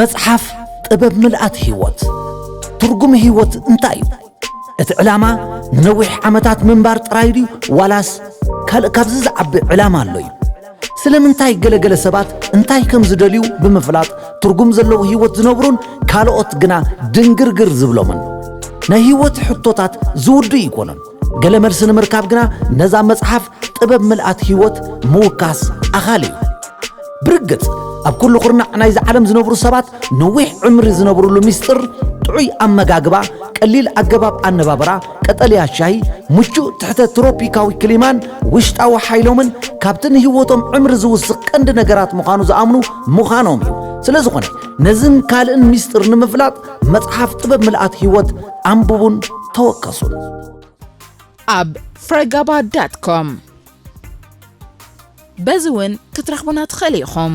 መጽሓፍ ጥበብ ምልኣት ህይወት ትርጉም ህይወት እንታይ እዩ? እቲ ዕላማ ንነዊሕ ዓመታት ምንባር ጥራይ ድዩ ዋላስ ካልእ ካብዚ ዝዓቢ ዕላማ ኣሎ እዩ? ስለምንታይ ገለገለ ሰባት እንታይ ከም ዝደልዩ ብምፍላጥ ትርጉም ዘለዎ ህይወት ዝነብሩን ካልኦት ግና ድንግርግር ዝብሎምን ናይ ህይወት ሕቶታት ዝውዱ ኣይኮኑን። ገለ መልሲ ንምርካብ ግና ነዛ መጽሓፍ ጥበብ ምልኣት ህይወት ምውካስ ኣኻሊ እዩ ብርግጽ ኣብ ኩሉ ኩርናዕ ናይዚ ዓለም ዝነብሩ ሰባት ነዊሕ ዕምሪ ዝነብሩሉ ምስጢር ጥዑይ ኣመጋግባ ቀሊል ኣገባብ ኣነባብራ ቀጠልያ ሻሂ ምቹእ ትሕተ ትሮፒካዊ ክሊማን ውሽጣዊ ሓይሎምን ካብቲ ንህይወቶም ዕምሪ ዝውስኽ ቀንዲ ነገራት ምዃኑ ዝኣምኑ ምዃኖም እዩ ስለ ዝኾነ ነዝን ካልእን ምስጢር ንምፍላጥ መጽሓፍ ጥበብ ምልኣት ሕይወት ኣንብቡን ተወከሱን። ኣብ ፍረጋባ ዳት ኮም በዚ እውን ክትረኽቡና ትኽእል ኢኹም።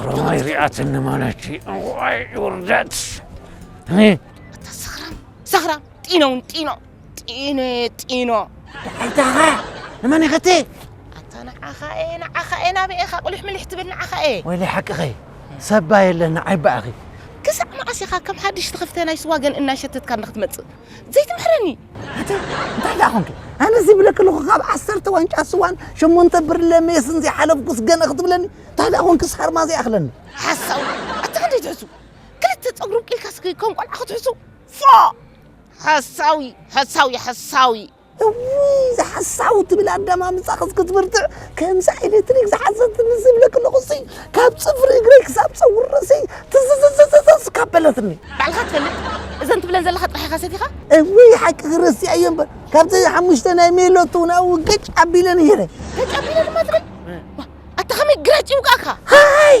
ቁርማይ ሪኣትኒ ማለት ዋይ ውርደት ሰኽራም ሰኽራም ጢኖ እውን ጢኖ ጢኖ ጢኖ ሓይታኻ ንመን ይኸቲ ኣታ ንዓኻ እየ ንዓኻ እየ ናበይ ኢኻ ቁልሕ ምልሕ ትብል ንዓኻ እየ ወይለ ሓቅኺ ሰባ የለን ንዓይ በኣኺ ክሳዕ መዓስ ኢኻ ከም ሓድሽ ትኽፍተ ናይ ስዋ ገን እናሸተትካ ንክትመፅእ ዘይትምህረኒ ኣታ እንታይ ደኣ ኮንኪ ኣነ ዝብለኪ ኣለኹ ካብ ዓሰርተ ዋንጫ ስዋን ሸሞንተ ብርለ ሜስን ዘይሓለፍኩስ ገለ ክትብለኒ እንታይ ደኣ ኮንኪ ሳርማ ዘይኣኽለኒ ሓሳዊ ኣታ ክንደይ ትሕሱ ክልተ ፀጉሪ ኣብቂልካስ ከም ቆልዓ ክትሕሱ ፎእ ሓሳዊ ሓሳዊ ሓሳዊ እውይ እዛ ሓሳዊ ትብል ኣዳማምጻ ክስ ክትብርትዕ ከምዛ ኤሌክትሪክ ዝሓዘት ምስ ዝብለክ ኣለኹሲ ካብ ጽፍሪ እግረይ ክሳብ ጸጉሪ ርእሰይ ትዝዝዝዝዝዝ ካብ በለትኒ ባዕልኻ ትፈልጥ እዘን ትብለን ዘለኻ ጥራሕ ኢኻ ሰቲኻ እውይ ሓቅኺ ረሲዐዮ እምበር ካብዘን ሓሙሽተ ናይ ሜሎት እውን ኣብኡ ገጭ ኣቢለን እየ ነይ ገጭ ኣቢለ ድማ ትብል ኣታ ከመይ ግራጭ ይውቃካ ሃይ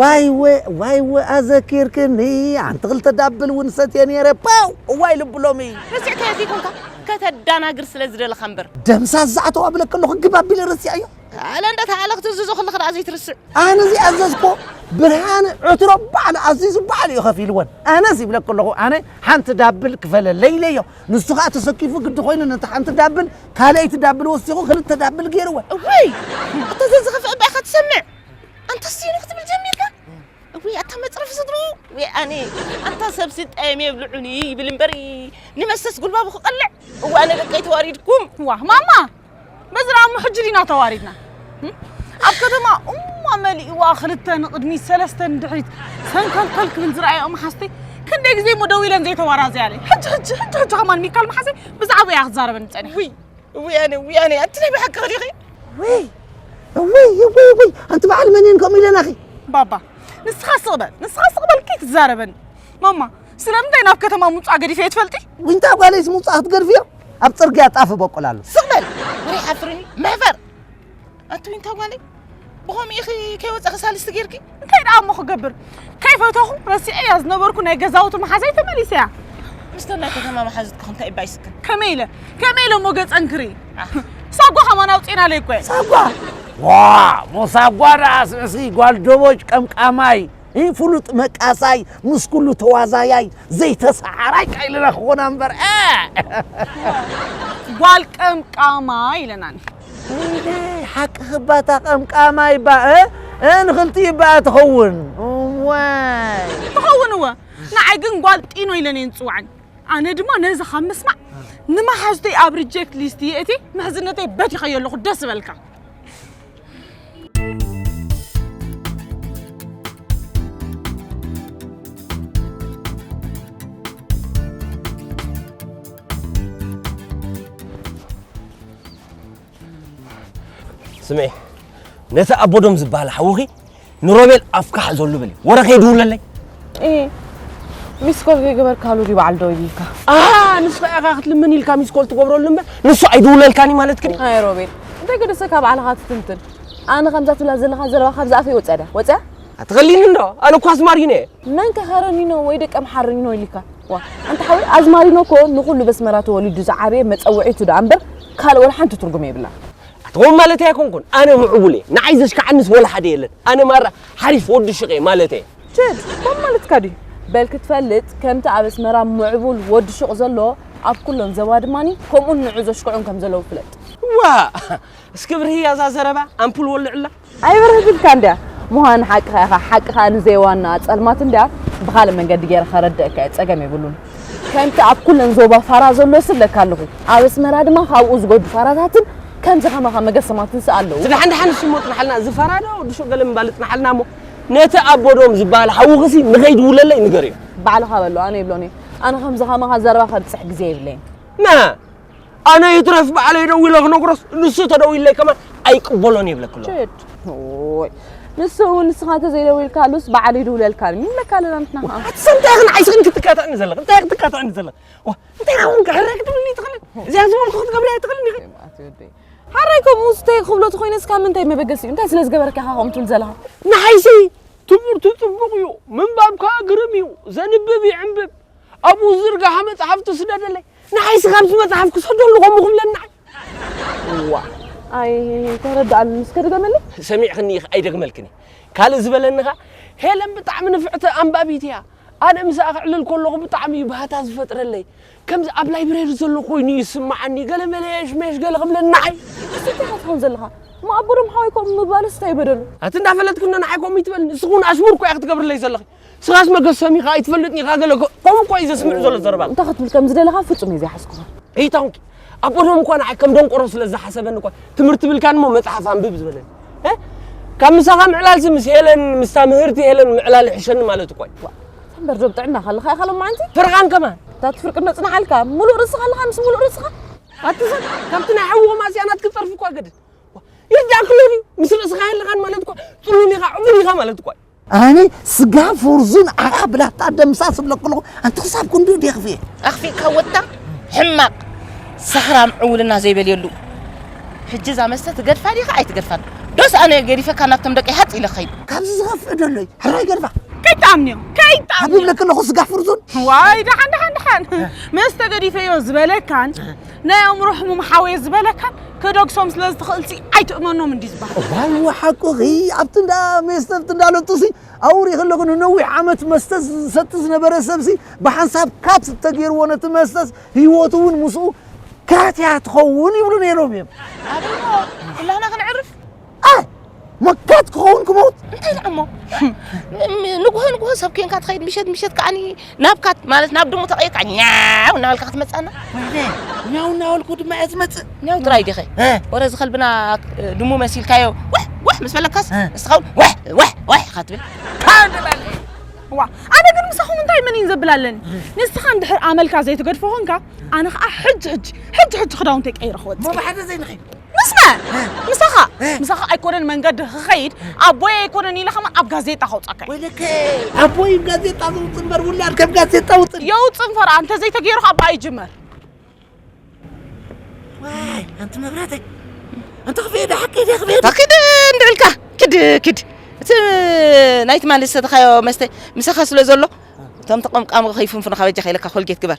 ዋይወ ዋይወ ኣዘኪርክኒ ሓንቲ ክልተ ዳብል እውን ሰትየ ነይረ ፓው እዋይ ልቢ ሎሚ ረሲዕካዮ ዘይኮንካ ከተዳናግር ስለ ዝደለኻ እምበር ደምሳስ ዝኣተው ኣብለኪ ኣለኹ ግብ ኣቢለ ረሲዐዮ ኣለ እንደ ተኣለ ክትእዝዞ ከለኻ ደኣ ዘይትርስዕ ኣነ ዝኣዘዝኮ ብርሃነ ዕትሮ ባዕሉ ኣዚዙ ባዕሉ እዩ ከፊልወን ኣነስ ይብለኪ ኣለኹ ኣነ ሓንቲ ዳብል ክፈለለይ ኢለዮ ንሱ ከዓ ተሰኪፉ ግዲ ኮይኑ ነቲ ሓንቲ ዳብል ካልኣይቲ ዳብል ወሲኹ ክልተ ዳብል ገይርወን እዋይ ኣታ ዘዝኸፍእ እባ ኢኻ ትሰምዕ ኣንታ ሲኑ ክትብል ጀሚርካ እውይ ኣታ መፅረፊ ስድሩ ወይ ኣነ ኣንታ ሰብሲ ጠየም የብልዑኒ ይብል እምበር ንመሰስ ጉልባቡ ክቐልዕ እወ ኣነ ደቀይ ተዋሪድኩም ዋ ማማ በዚ ደኣ እሞ ሕጂ ዲና ተዋሪድና ኣብ ከተማ እሞ መሊእዋ ክልተ ንቕድሚት ሰለስተ ንድሕሪት ሰንከልከል ክብል ዝረኣየኦ መሓዝተይ ክንደይ ግዜ እሞ ደው ኢለን ዘይተዋራዘያለይ ሕጂ ሕጂ ሕጂ ሕጂ ከማን ሚካል መሓዘይ ብዛዕባ እያ ክትዛረበኒ ፀኒሓ ውያኔ ውያኔ ኣንቲ ናይ ብሓቂ ዲኺ ወይ ወይ ወይ ወይ ኣንቲ በዓል መን እየን ከምኡ ኢለናኺ ባባ ንስኻ ስቕ በል ንስኻ ስቕ በል ከይትዛረበኒ ማማ ስለምንታይ ናብ ከተማ ምውፃእ ገዲፈ እየ ትፈልጢ ዊንታ ጓለይስ ምውፃእ ክትገድፍዮ ኣብ ፅርግያ ጣፍ በቁል ኣሎ ስቕ በል ውሪ ሓፍርኒ መሕፈር ኣቱይ እንታ ጓለይ ብኸምኡ ኢኺ ከይወፀኺ ሳልስቲ ጌርኪ እንታይ ደኣ እሞ ክገብር ከይፈተኹ ረሲዐያ ዝነበርኩ ናይ ገዛውቲ መሓዛይ ተመሊሰ እያ ምስተ ናይ ከተማ መሓዙትካ እንታይ እባ ይስክን ከመይ ኢለ ከመይ ኢለ እሞ ገፀን ክሪ ሳጓ ከማን ኣውፅና ለይ እኮ ሳጓ ዋ ሞሳጓ ደኣስ እስኪ ጓል ደቦጭ ቀምቃማይ ይህ ፍሉጥ መቃሳይ ምስ ኩሉ ተዋዛያይ ዘይተሰዓራይ ካይልና ክኾና እምበር ጓል ቀምቃማ ኢለናኒ ሰይደይ ሓቅኺ እባ እታ ቀምቃማይ እባ እ እ ንኽልቲኡ እባ ትኸውን እዋይ ትኸውን እወ ንዓይ ግን ጓል ጢኖ ኢለን እየን ዝፅውዓኒ ኣነ ድማ ነዚ ካብ ምስማዕ ንመሓዙተይ ኣብ ሪጀክት ሊስት የእቲ ምሕዝነተይ በቲኸዮ ኣለኹ ደስ በልካ ስምዒ ነቲ ኣቦዶም ዝበሃል ሓውኺ ንሮቤል ኣፍካ ሓዘሉ በል ወረ ከይድውለለይ ሚስኮል ከይገበርካሉ ድዩ በዓል ደው ይብልካ ንሱ ኢኻ ክትልምን ኢልካ ሚስኮል ትገብረሉ እምበር ንሱ ኣይድውለልካን እዩ ማለት ግን ኣይ ሮቤል እንታይ ገደሰ ካብ ባዕልኻ ትትንትን ኣነ ከምዛ ትብላ ዘለኻ ዘረባ ካብ ዝኣፈ ወፀደ ወፀ ኣትኸሊኒ እንዶ ኣነ እኳ ኣስማር እዩ ነየ መን ከ ከረኒኖ ወይ ደቂ ኣምሓርኒኖ ኢሉካ? ዋእ ኣንታ ሓወይ ኣዝማሪኖ እኮ ንኹሉ በስመራ ተወሊዱ ዝዓበየ መጸውዒቱ ደኣ እምበር ካልእ ወላ ሓንቲ ትርጉም የብላን። ኣቲ ከምኡ ማለተይ ኣይኮንኩን ኣነ ምዕቡል እየ ንዓይ ዘሽካዓንስ ወላ ሓደ የለን ኣነ ማራ ሓሪፍ ወዲ ሹቅ እየ ማለተይ እየ። ችድ ከምኡ ማለትካ ድዩ በል ክትፈልጥ ከምቲ ኣብ ኣስመራ ምዕቡል ወዲ ሹቅ ዘሎ ኣብ ኩለን ዘባ ድማኒ ከምኡን ንዑ ዘሽክዑን ከም ዘለዉ ፍለጥ። ዋእ እስኪ ብርህያ እዛ ዘረባ ኣምፑል ወልዑላ። ኣይበርህትልካን ድያ? ምዃን ሓቅኻ ኢኻ፣ ሓቂ ከኣ ንዘየዋንኣ ጸልማት እንድያ፣ ብኻልእ መንገዲ ገይረ ከረድኣካ'የ፣ ጸገም የብሉን። ከምቲ ኣብ ኩለን ዞባ ፋራ ዘሎ ስብለካ ኣለኹ፣ ኣብ ኣስመራ ድማ ካብኡ ዝጎዱ ፋራታትን ከምዚ ከማኻ መገሰማትንሲ ኣለዉ። ድሓን ድሓን ንስሞ ጽንሓልና፣ እዚ ፋራ ዶ ድሹቕ ገለ ምባል እጽንሓልና'ሞ፣ ነቲ ኣቦ ዶም ዝበሃል ሓውኽሲ ንኸይድውለለይ ንገርዮ። ባዕልኻ በሎ፣ ኣነ ኣይብሎን'የ፣ ኣነ ከምዚ ከማኻ ዘረባ ከብጽሕ ግዜ የብለይን። መ። ኣነ ይትረፍ ባዕለይ ደዊለ ክነግሮስ ንሱ ተደዊለይ ከማን ኣይቅበሎን ይብለክ ኣሎ ንሱ እውን ንስኻ እንተዘይደዊልካሉስ በዓል ይድውለልካ ይብለካ ኣለና ንሕና ከዓ እንታይ ኽን ዓይስኽን ክትቃትዕኒ ዘለኽ እንታይ ክትቃትዕኒ ዘለኽ እንታይ ኸውን ክሕረ ክትብልኒ ትኽእልን እዚኣ ዝበልኩ ክትገብርያ ትኽእልን ኢኺ ሓራይ ከምኡ ስተይ ክብሎ ተኮይነስ ካብ ምንታይ መበገሲ እዩ እንታይ ስለ ዝገበረካ ኢኻ ከምኡ ትብል ዘለኻ ንሓይሲ ትምህርቱ ፅቡቕ እዩ ምንባብካ ግርም እዩ ዘንብብ ይዕንብብ ኣብኡ ዝርግሓ መፅሓፍቲ ስደደለይ ንዓይ ስኻ ኣብዚ መጽሓፍ ክሰደሉ ከምኡ ክብለኒ ንዓይ እዋ ኣይ ተረድኣኒ እስከ ድገመለይ ሰሚዕክኒ ኢኺ ኣይደግመልክን እየ ካልእ ዝበለኒ ኸኣ ሄለን ብጣዕሚ ንፍዕቲ ኣንባቢት እያ ኣነ ምስኣ ክዕልል ከለኹ ብጣዕሚ እዩ ባህታ ዝፈጥረለይ ከምዚ ኣብ ላይብረሪ ዘሎ ኮይኑ እዩ ዝስምዓኒ ገለ መለየሽ መሽ ገለ ክብለኒ ንዓይ እንታይ ኢኻ ትኸውን ዘለኻ ማኣቦሮም ሓወይ ከምኡ ምባልስ እንታይ በደሉ ኣቲ እንዳፈለጥክኒ ንዓይ ከምኡ ይትበልኒ ንስኺ እውን ኣሽሙር እኮ እያ ክትገብርለይ ዘለኺ ስራስ መገሰሚኻ ኣይትፈልጥን ኢኻ ገለ ከምኡ እኳ እዩ ዘስምዕ ዘሎ ዘረባ እንታይ ክትብል ከም ዝደለኻ ፍጹም እየ ዘይሓስኩኻ እይታውንኪ ኣብ ቀደም እኳ ንዓይ ከም ደንቆሮ ስለ ዝሓሰበኒ እኳ ትምህርቲ ብልካን እሞ መፅሓፍ ኣንብብ ዝበለኒ ካብ ምሳኻ ምዕላልሲ ምስ ሄለን ምስታ ምህርቲ ሄለን ምዕላል ይሕሸኒ ማለት እኳ እዩ እምበር ዶ ብጥዕና ካለኻ ኢኻ ሎማዓንቲ ፍርቓን ከማን እታ ትፍርቂ ነፅናሓልካ ሙሉእ ርእስኻ ኣለኻ ምስ ሙሉእ ርእስኻ ኣትሰብ ካብቲ ናይ ሓዊ ማስያናት ክፀርፊ እኳ ገድድ ይርዳእክሎ ድዩ ምስ ርእስኻ የለኻን ማለት እኳ ፅሉል ኢኻ ዕቡድ ኢኻ ማለት እኳ እዩ ኣነ ስጋ ፎርዙን ኣኻ ብላታ ደምሳስ እብለክ ኣለኹ ኣንቲ ክሳብ ክንድኡ ድየ ክፍየ ኣኽፊእካ ወታ ሕማቕ ሳህራም ዕውልና ዘይበልየሉ ሕጂ እዛ መስተ ትገድፋ ዲኻ ኣይትገድፋን ዶስ ኣነ ገዲፈካ ናብቶም ደቂ ሃፅ ኢለ ከይድ ካብዚ ዝኸፍእ ዶ ኣሎዩ ሕራይ ገድፋ ከይትኣምንዮ ከይትኣምንዮ ይብለክ ኣለኹ ስጋ ፍርዙን ዋይ ደሓን ደሓን ደሓን መስተ ገዲፈዮ ዝበለካን ናይ ኣእምሮ ሕሙም ሓወየ ዝበለካን ክደግሶም ስለ ዝትኽእልሲ ኣይትእመኖም እንዲ ዝበሃል ዋው ሓቁኺ ኣብቲ እንዳ ሜስተብቲ እንዳ ለጡሲ ኣውሪ ከለኹ ንነዊሕ ዓመት መስተ ዝሰቲ ዝነበረ ሰብሲ ብሓንሳብ ካፕ ተገይርዎ ነቲ መስተስ ህይወቱ እውን ምስኡ ካትያ ትኸውን ይብሉ ነይሮም እዮም ኩላና ክንዕርፍ ኣይ መካት ክኸውን ክመውት እንታይ ደኣ እሞ ንጉሆ ንጉሆ ሰብ ኮንካ ትኸይድ ምሸት ምሸት ከዓኒ ናብ ካት ማለት ናብ ድሙ ተቐይርካ ኛው እናበልካ ክትመፅኣና ኛው እናበልኩ ድማ እየ ዝመፅእ ኛው ጥራይ ዲኸ ወረ እዚ ከልብና ድሙ መሲልካዮ ዋሕ ዋሕ ምስ በለካስ ንስኻ እውን ዋሕ ዋሕ ዋሕ ኢኻ ትብል ዋ ኣነ ግን ምሳኹም እንታይ መን እዩን ዘብል ኣለኒ ንስኻ እንድሕር ኣመልካ ዘይትገድፎ ኮንካ ኣነ ከዓ ሕጂ ሕጂ ሕጂ ሕጂ ክዳውንተይ ቀይረ ክወፅእ ብሓደ ዘይንኸይድ ምስመ ምሳኻ ምሳኻ ኣይኮነን መንገዲ ክኸይድ ኣቦይ ኣይኮነን ኢለ ከማ ኣብ ጋዜጣ ከውጻካ ወይለከ ኣቦይ ጋዜጣ ዘውጽእ እምበር ውላድ ከም ጋዜጣ ውጽእ የውጽእ እንፈራ እንተዘይተገይሩ ካብ በኣ ይጅመር ዋይ ኣንቲ መብራተይ ኣንቲ ክፍየ ዶ ሓቂ ደ ክፍየ ታኪድ እንድዕልካ ክድ ክድ እቲ ናይ ትማሊ ዝሰተኻዮ መስተ ምሳኻ ስለ ዘሎ እቶም ተቐምቃሚ ከይፍንፍኑ ካበጃ ከይለካ ኮልጌት ግበር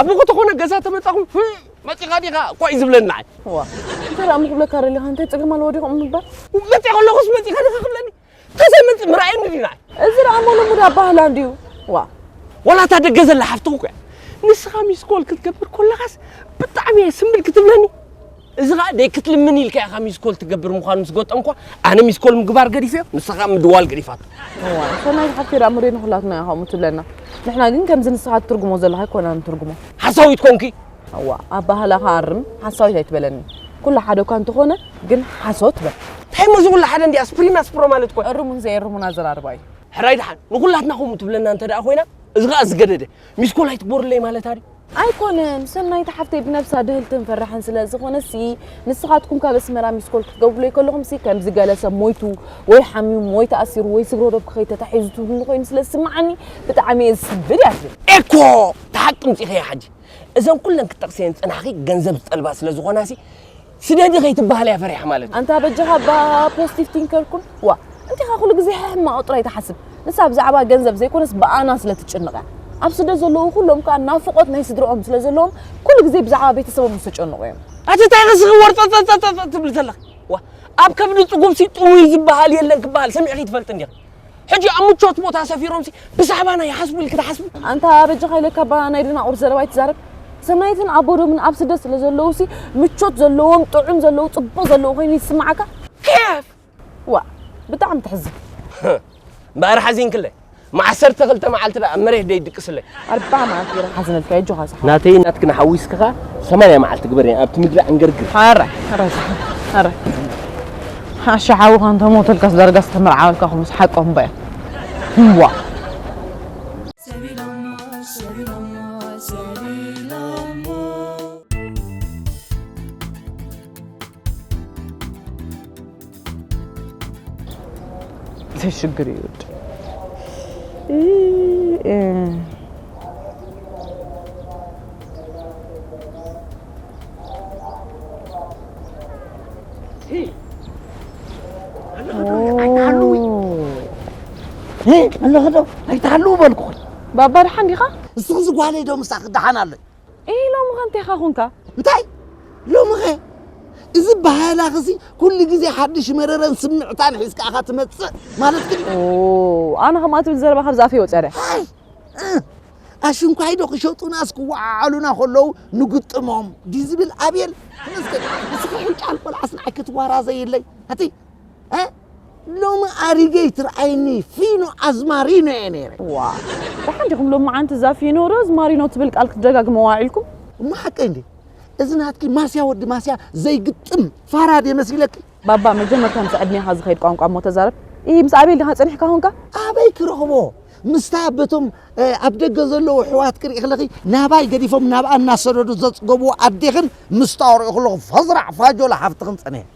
ኣብ ዝኾነ ገዛ ተመጻኹም መጺኻ ዲኻ ኳይ ዝብለና ዋ እንታይ ደኣ ምክብለካ ደለኻ እንታይ ፀገም ኣለዎ ዲኹም ምባል መጺ ከለኹስ መጺኻ ዲኻ ክብለኒ ተዘይመጽ ምርኣየኒ ዲና እዚ ደኣ ሞለሙድ ኣባህላ እንድዩ ዋ ወላ እታ ደገ ዘላ ሓፍትኹ እኮ እያ ንስኻ ሚስኮል ክትገብር ኮለኻስ ብጣዕሚ እየ ስምብል ክትብለኒ እዚ ኸኣ ደይ ክትልምን ኢልካ ኢኻ ሚስኮል ትገብር ምዃኑ ምስ ገጠምኳ ኣነ ሚስኮል ምግባር ገዲፈዮ ንሳ ኸኣ ምድዋል ገዲፋቶ። እዋይ ሰናይት ሓፍተይ ደኣ ምሬ ንኹላትና ኢያ ከምኡ ትብለና ንሕና ግን ከምዚ ንስኻ ትትርጉሞ ዘለኻ ኣይኮናን ንትርጉሞ። ሓሳዊት ኮንኪ። እዋ ኣባህላኻ ኣርም ሓሳዊት ኣይትበለኒ ኩሉ ሓደ እኳ እንተኾነ ግን ሓሶት በል። እንታይ እሞ እዚ ኩሉ ሓደ እንድያስ ፕሪም ኣስፕሮ ማለት እኮ። እርሙን ዘይእርሙን ኣዘራርባ ኢዩ። ሕራይ ደሓን ንኹላትና ከምኡ ትብለና እንተ ደኣ ኮይና እዚ ኸኣ ዝገደደ ሚስኮል ኣይትግበሩለይ ማለታ ድዩ። ኣይኮነን ሰናይት ሓፍተይ ብነብሳ ድህልትን ፈራሕን ስለ ዝኾነሲ ንስኻትኩም ካብ ኣስመራ ሚስኮል ክትገብሩለይ ከለኹምሲ ከምዚ ገለ ሰብ ሞይቱ ወይ ሓሚሙ ወይ ተኣሲሩ ወይ ስግሮ ዶብኪ ከይተታሒዙ ትብሉኒ ኮይኑ ስለ ዝስምዓኒ ብጣዕሚ እየ ዝስንብድ እያ ትብል። ኤኮ እቲ ሓቂ ምጺኺዮ ሓጂ እዘን ኩለን ክትጠቅስየን ዝጸናሕኺ ገንዘብ ዝጠልባ ስለ ዝኾናሲ ስደዲ ከይትበሃል እያ ፈሪሓ ማለት እዩ። ኣንታ በጃኻ እባ ፖስቲቭ ቲንከር ኩን። ዋ እንቲኻ ኩሉ ግዜ ሕማቕ ጥራይ ትሓስብ። ንሳ ብዛዕባ ገንዘብ ዘይኮነስ ብኣና ስለ ትጭንቕ እያ። ኣብ ስደት ዘለዉ ኩሎም ከኣ ናፍቖት ናይ ስድርኦም ስለ ዘለዎም ኩሉ ግዜ ብዛዕባ ቤተሰቦም ዝተጨንቑ እዮም። ኣቲ እንታይ ርእስኺ ወርጸጸጸጸ ትብሊ ዘለኺ? ዋ ኣብ ከብዲ ጽጉብሲ ጥውይ ዝበሃል የለን ክበሃል ሰሚዕኺ ትፈልጢ እንዲኺ? ሕጂ ኣብ ምቾት ቦታ ሰፊሮምሲ ብዛዕባና ይሓስቡ ኢልኪ ትሓስቢ? ኣንታ በጃኻ ኢለካ እባ ናይ ደናቑር ዘረባ ኣይትዛረብ። ሰናይትን ኣቦዶምን ኣብ ስደት ስለ ዘለዉሲ ምቾት ዘለዎም ጥዑም ዘለዎ ጽቡቕ ዘለዎ ኮይኑ ይስምዓካ? ኬፍ ዋእ ብጣዕሚ ተሕዝን። እምበኣር ሓዚንክለይ። ም ዓሰርተ ክልተ መዓልቲ ደኣ ኣብ መሬት ደይድቅስለይ። ኣርባዓ መዓልቲ ገይረ ክሓዝነልካ እየ ኣጆኻ ስሓቕ። ናተይን ናትክን ሓዊስክኻ ሰማንያ መዓልቲ ግበርና ኣብቲ ምድሪ ዕንግርግር። ኧረ ኧረ ኧረ ኣሻ ሓውኻ እንተሞተልካስ ዳርጋ ዝተመርዓወልካ ክብሉ ሓቆም እምበያ ህዋ ሽግር ይውድ ኣለኸዶ ኣይትሃልው በልኩ ባባ ድሓን ዲኻ ንስኹም ዝጓለይ ዶ ምሳኺ ድሓን ኣሎ እይ ሎምኸ እንቴኻ ኹንካ? እንታይ ሎምኸ? እዚ ባህላኽሲ ኩሉ ግዜ ሓድሽ መረረን ስምዕታን ሒዝካ ኢኻ ትመጽእ ማለት ግን ኣነ ከምኣ ትብል ዘረባ ካብዚ ኣፈይ ወጽያ ድያ? ኣሽንኳይዶ ክሸጡናስ ክወዓዓሉና ከለዉ ንግጥሞም ድዩ ዝብል ኣቤል ንስኪ ንስኪ ቁንጫል ቆልዓስ ንዓይ ክትዋራዘይለይ ኣቲ ሎሚ ኣሪገይ ትርኣይኒ ፊኖ ኣዝማሪኖ እየ ነይረ ዋ ደሓን ዲኹም ሎም መዓንቲ እዛ ፊኖ ሮዝማሪኖ ትብል ቃል ክትደጋግመዋ ዒልኩም እሞ ሓቀይ እንዴ እዚ ናትኪ ማስያ ወዲ ማስያ ዘይግጥም ፋራድ የመሲለኪ ባባ መጀመርታ ምስ ዕድሜኻ ዝኸይድ ቋንቋ እሞ ተዛረብ ይ ምስ ኣቤል ድኻ ጸኒሕካ ኹንካ ኣበይ ክረኽቦ ምስታ በቶም ኣብ ደገ ዘለዉ ኣሕዋት ክርኢ ክለኺ ናባይ ገዲፎም ናብኣ እናሰደዱ ዘፅገብዎ ኣዴኽን ምስታወሪኡ ክለኹ ፈዝራዕ ፋጆላ ሓፍትኽን ፀኒሐ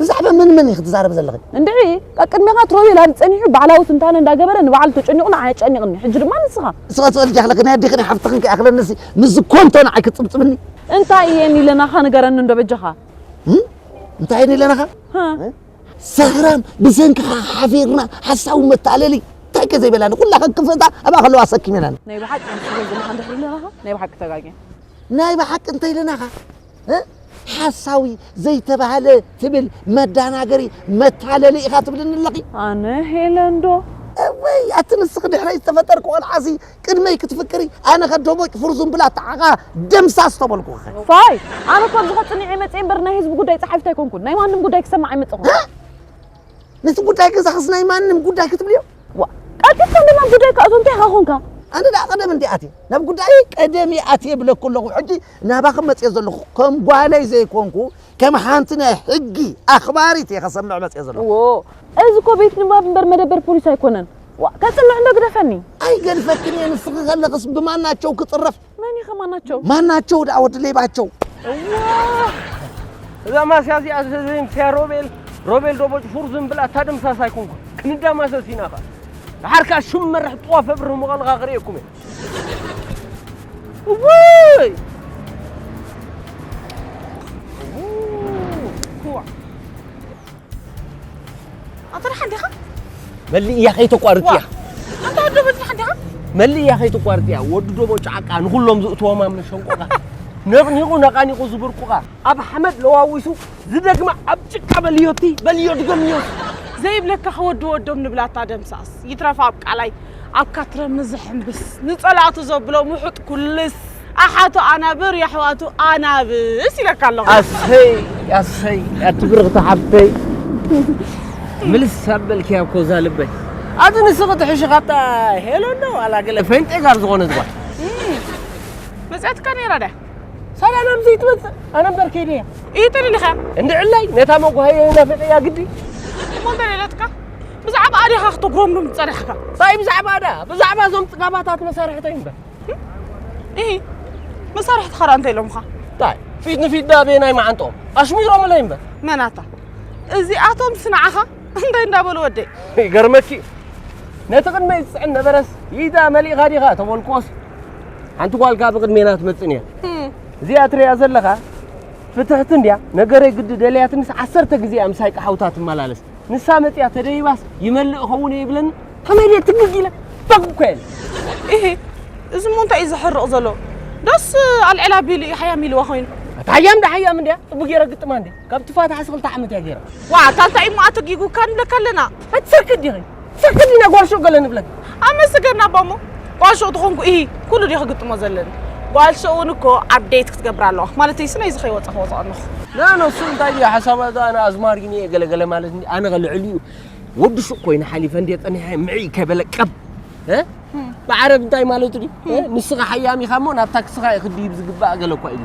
ብዛዕባ መን መን ኢኺ ትዛረቢ ዘለኺ? እንድዒ ቀቅድሜኻ ትሮቤል ኣብዚ ጸኒሑ ባዕላዊ ትንታነ እንዳገበረ ንባዕሉ ተጨኒቑ ንዓይ ኣጨኒቕኒ ሕጂ ድማ ንስኻ። ንስኻ ትበልጂ ኣኽለኪ ናይ ኣዴኺ ናይ ሓፍትኽን ከይኣኽለኒሲ ምስዚ ኮንቶ ንዓይ ክትጽብጽብኒ? እንታይ እየ ኒለናኻ ንገረኒ እንዶ በጃኻ። እንታይ እየ ኒለናኻ? ሀ። ሰኽራም ብሰንክኻ ሓፊርና ሓሳዊ መታለሊ እንታይ ከ ዘይበላኒ ኩላ ከክፍእታ ኣብኣ ከለዋ ኣሰኪሜናኒ። ናይ ብሓቂ ከምዚ ትብል ዘለኻ እንድሕሪ ኢለናኻ ናይ ብሓቂ ተጋግየ። ናይ ብሓቂ እንተ ኢለናኻ? ሓሳዊ ዘይተባህለ ትብል መዳናገሪ መታለሊ ኢኻ ትብልኒ ኣለኺ። ኣነ ሄለን ዶ? እውይ ኣቲ ንስኺ ድሕረይ ዝተፈጠርኪ ቆልዓሲ ቅድመይ ክትፍቅሪ ኣነ ከ ዶቦጭ ፍርዙን ብላ ተዓቓ ደምሳስ ተበልኩኺ። ፋይ ኣነ እኮ ኣብዚ ከጽኒዐ መጽየ እምበር ናይ ህዝቢ ጉዳይ ጸሓፊት ኣይኮንኩን። ናይ ማንም ጉዳይ ክሰምዕ ኣይመጸኹን። ነቲ ጉዳይ ገዛኽስ ናይ ማንም ጉዳይ ክትብልዮ? ዋ ቀልጢፍካ እንዶ ናብ ጉዳይካ እቶ እንታይ ኢኻ ኮንካ? ኣነ ደኣ ቀደም እንድየ ኣትየ ናብ ጉዳየይ ቀደም እየ ኣትየ ይብለኩ ኣለኹ ሕጂ ናባኽም መጺኤ ዘሎኹ ከም ጓለይ ዘይኮንኩ ከም ሓንቲ ናይ ሕጊ ኣኽባሪት እየ ከሰምዕ መጺኤ ዘሎኹ። እዎ እዚ እኮ ቤት ንባብ እምበር መደበር ፖሊስ ኣይኮነን። ዋእ ከጽንዕ እንዶ ግደፈኒ። ኣይገድፈክን እየ ንስኺ ከለኽስ ብማናቸው ክጽረፍ። መን ኢኸ ማናቸው? ማናቸው ደኣ ወዲ ሌባቸው። እዛ ማስያ እዚኣ ዘይምስያ ሮቤል ሮቤል ዶቦጭ ፉር ዝም ብላ እታ ድምሳስ ኣይኮንኩን ክንዳማሰስ ኢና ኸ ንሓርካ ሽም መርሕ ጥዋፍ ኣብርህ ምቐልኻ ክርእየኩም እየ ውይ ኣንተ ደሓን ዲኻ መልእ እያ ከይተቋርጥ እያ ኣንተ ወዲ ዶቦ ደሓን ዲኻ መልእ እያ ከይተቋርጥ እያ ወዲ ዶቦ ጫዕቃ ንኹሎም ዝእትዎም ኣብ መሸንቆኻ ነቕኒቑ ነቓኒቑ ዝብርቁኻ ኣብ ሓመድ ለዋዊሱ ዝደግማ ኣብ ጭቃ በልዮቲ በልዮ ድገምዮ ዘይብለካ ክወዲ ወዶም ንብላታ ደምሳስ ይትረፍ ኣብ ቃላይ ኣብ ካትረሚ ዝሕምብስ ንጸላእቱ ዘብሎ ምሑጥ ኩልስ። ኣሓቱ ኣናብር የሕዋቱ ኣናብስ ኢለካ ኣለኹ። ኣሰይ ኣሰይ ኣቲ ብርኽቲ ሓፍተይ ምልስ ኣበልክያ እኮ እዛ ልበይ ኣቲ ንስኺ ትሕሺ ካብታ ሄሎ እንዶ ዋላ ገለ ፈንጤ ጋር ዝኾነት ጓል መጽያትካ ነይራ ድያ ሳላ ናብዚ ይትመጽእ ኣነ እምበር ከይደ እያ እዩ ተደሊኻ እንድዕላይ ነታ መጓሃየይ ናፊቐያ ግዲ እሞ እንተ ደለትካ ብዛዕባ ኣዴኻ ክትጉረምሩም ዝጸናሕካ ታይ ብዛዕባ ድኣ ብዛዕባ እዞም ጽጋባታት መሳርሕተይ እምበር ኢ መሳርሕትኻ ድኣ እንታይ ኢሎምኻ ታይ ፊት ንፊት ድኣ ቤናይ መዓንጥኦም ኣሽሚሮምለይ እምበር መናታ እዚኣቶም ስንዓኻ እንታይ እንዳበሉ ወደይ ይገርመኪ እዩ ነቲ ቅድመይ ዝፅዕን ነበረስ ኢዳ መሊእኻ ዲኻ ተበልክዎስ ሓንቲ ጓልካ ብቅድሜና ትመፅእ ነይር እዚኣ ትሪያ ዘለኻ ፍትሕቲ እንድያ ነገረይ ግዲ ደልያትንስ ዓሰርተ ግዜ ኣምሳይ ቀሓውታ ትመላለስ ንሳ መጽያ ተደይባስ ይመልእ ኸውን እየ ይብለኒ ከመይ ድየ ትግግ ኢለ ባግ እኮ እየ ኢሂ እዚ እሞ እንታይ እዩ ዘሕርቕ ዘሎ ዶስ ኣልዕላ ቢሉ እዩ ሓያም ኢልዋ ኮይኑ ኣታ ሓያም ዳ ሓያም እንድያ ጽቡቅ ገይረ ግጥማ እንዲ ካብ ትፋታሓስ ክልተ ዓመት እያ ገይራ ዋ ታንታይ እሞ ኣተጊጉካ ንብለካ ኣለና ኣትሰርቂ ዲኺ ሰርቂ ዲና ጓል ሸጎለ ንብለኪ ኣመስገን ኣቦ እሞ ጓል ሸው ተኾንኩ እሂ ኩሉ ድየ ክግጥሞ ዘለኒ ጓል ሸው እውን እኮ ኣብዴት ክትገብር ኣለዋ ማለተይ ስለዚ ከይወፀ ክወፅኦ ኣለኹ ናኖ እሱ እንታይ እዩ ሓሳባ እዛ ኣነ ኣዝማሪኒ እየ ገለገለ ማለት እንዲ ኣነ ከልዕል እዩ ወዲ ሱቅ ኮይኑ ሓሊፈ እንዲ ፀኒሐ ምዕይ ከበለ ቀብ ብዓረብ እንታይ ማለቱ ድዩ ንስኻ ሓያም ኢኻ እሞ ናብታ ክስኻ እዩ ክድይብ ዝግባእ ገለ እኳ ኢሉ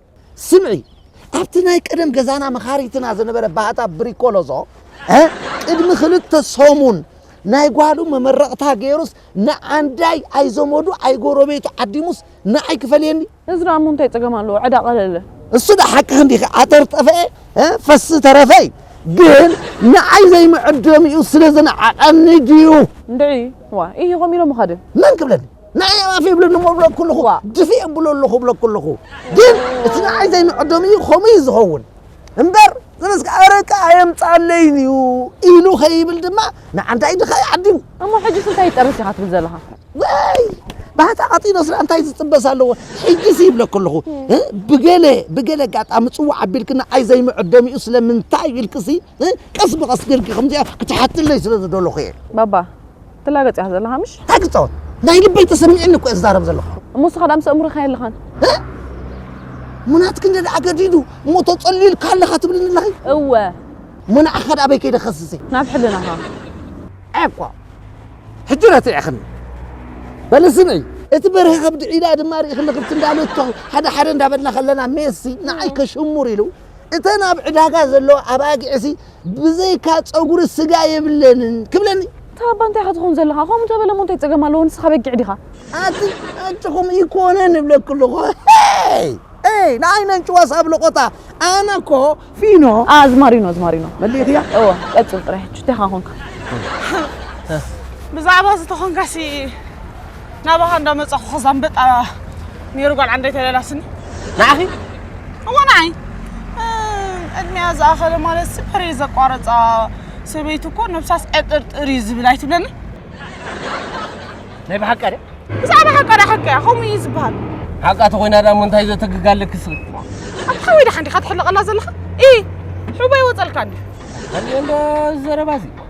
ስምዒ ኣብቲ ናይ ቀደም ገዛና መኻሪትና ዝነበረ ባህታ ብሪኮሎዞ ቅድሚ ክልተ ሰሙን ናይ ጓሉ መመረቕታ ገይሩስ ንዓንዳይ ኣይዘመዱ ኣይጎረቤቱ ዓዲሙስ ንዓይ ክፈልየኒ እዚ ደኣ እሞ እንታይ ጸገም ኣለዎ ዕዳ ቀለለ እሱ ዳ ሓቅኽን ዲኺ ዓተር ጠፈኤ ፈሲ ተረፈ እዩ ግን ንዓይ ዘይምዕደሚኡ ስለ ዝነዓቐኒ ድዩ እንድዒ ዋ ኢሂ ከምኡ ኢሎምኻ ድዮም መን ክብለኒ ንኣይ ኣባፊ ይብለኒ እሞ እብሎ ኩልኹ ድፊ እብሎ ኣለኹ እብሎ ኩልኹ ግን እቲ ንዓይ ዘይምዕዶም እዩ ከምኡ እዩ ዝኸውን እምበር ስለዚ ኣረቂ ኣየምፃለይን እዩ ኢሉ ከይብል ድማ ንዓንታይ ድኻ እዩ ዓዲሙ እሞ ሕጂስ እንታይ ይጠርስ ኢኻ ትብል ዘለኻ ወይ ባህታ ቀጢኖ ስለ እንታይ ዝጥበስ ኣለዎ ሕጂስ ይብለ ከለኹ እ፣ ብገለ ብገለ ኣጋጣሚ ፅዋዕ ኣቢልክና ኣይ ዘይምዕዶም እዩ ስለምንታይ ኢልክሲ ቀስ ብቐስ ጌርኪ ከምዚኣ ክትሓትለይ ስለ ዝደለኹ እየ ባባ ትላገጽ እያ ዘለኻ ምሽ እንታይ ክጻወት ናይ ልበይ ተሰሚዕኒ እኮ እየ ዝዛረብ ዘለኹ እሞ እስኻ ዳምሰ እምርኻ የለኻን ሙናትክ እንደ ደኣ ገዲዱ እሞ ተጸልዩልካ ኣለኻ ትብልኒ ኣለኺ እወ ሙናዕኻ ደኣ ኣበይ ከይደ ከስሰ ናብ ሕልናኻ ዓቋ ሕጂ ረቲዕኽኒ በሊ ስምዒ እቲ በርሀ ከብዲ ዒላ ድማ ርኢኽኒ ክብቲ እንዳለቶ ሓደ ሓደ እንዳበልና ከለና ሜሲ ንዓይ ከሽሙር ኢሉ እተን ኣብ ዕዳጋ ዘለዋ ኣባጊዕሲ ብዘይካ ፀጉሪ ስጋ የብለንን ክብለኒ እታ ኣባ እንታይ ኢኻ ትኸውን ዘለኻ ከምኡ እንተበለ እሞ እንታይ ፀገም ኣለዎ ንስኻ በጊዕ ዲኻ ኣቲ ኣንጭኹም ይኮነ ንብለክ ኣለኹ ይ ንኣይ ነንጭዋ ሳብ ለቆታ ኣነ እኮ ፊኖ ኣዝማሪኖ ኣዝማሪኖ መሊእኽያ እወ ቀፅል ጥራይ ሕጂ እንታይ ኢኻ ኮንካ ብዛዕባ ዝተኾንካሲ ናባኻ እንዳመጻኹ ከዛ ኣንበጣ ነይሩ ጓል ዓንደይ ተለላስኒ ንዓኺ እዎ ንዓይ ዕድሜያ ዝኣኸለ ማለት ስፐሬ ዘቋረፃ ሰበይቲ እኮ ነብሳስ ዕጥርጥር እዩ ዝብል ኣይትብለኒ ናይ ብሓቂ ድያ ብዛዕባ ሓቃ ዳ ሓቂ እያ ከምኡ እዩ ዝበሃል ሓቃ ተኮይና ዳ እሞ እንታይ ዘተግጋ ኣለኪ ስኺ ኣብ ሓወይ ዳሓ እንዲኻ ትሕልቐላ ዘለኻ ኢ ሕቦ ይወፀልካ እንዲ ዘረባ እዚ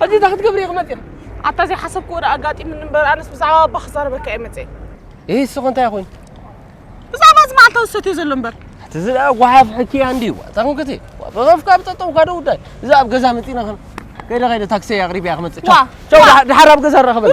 ሕጂ እንታይ ክትገብሪ ኢኺ መፂኺ? ኣታ ዘይሓሰብክዎ ደኣ ኣጋጢሙኒ እምበር ኣነስ ብዛዕባ ኣባ ክዛረበካ እየ መፀ እህ እስኺ እንታይ ኮይኑ ብዛዕባ እዚ መዓልታዊ ዝሰትዮ ዘሎ እምበር እቲ እዚ ደኣ ጓሓፍ ሕኪ እያ እንድዩ ዋጣ ክንክቲ ብኸፍካ ብጠጠውካ ዶ ጉዳይ እዛ ኣብ ገዛ መፂና ከይደ ከይደ ታክሲ ኣቕሪበያ ክመፅእ ቻው ቻው ደሓር ኣብ ገዛ ንራኸበና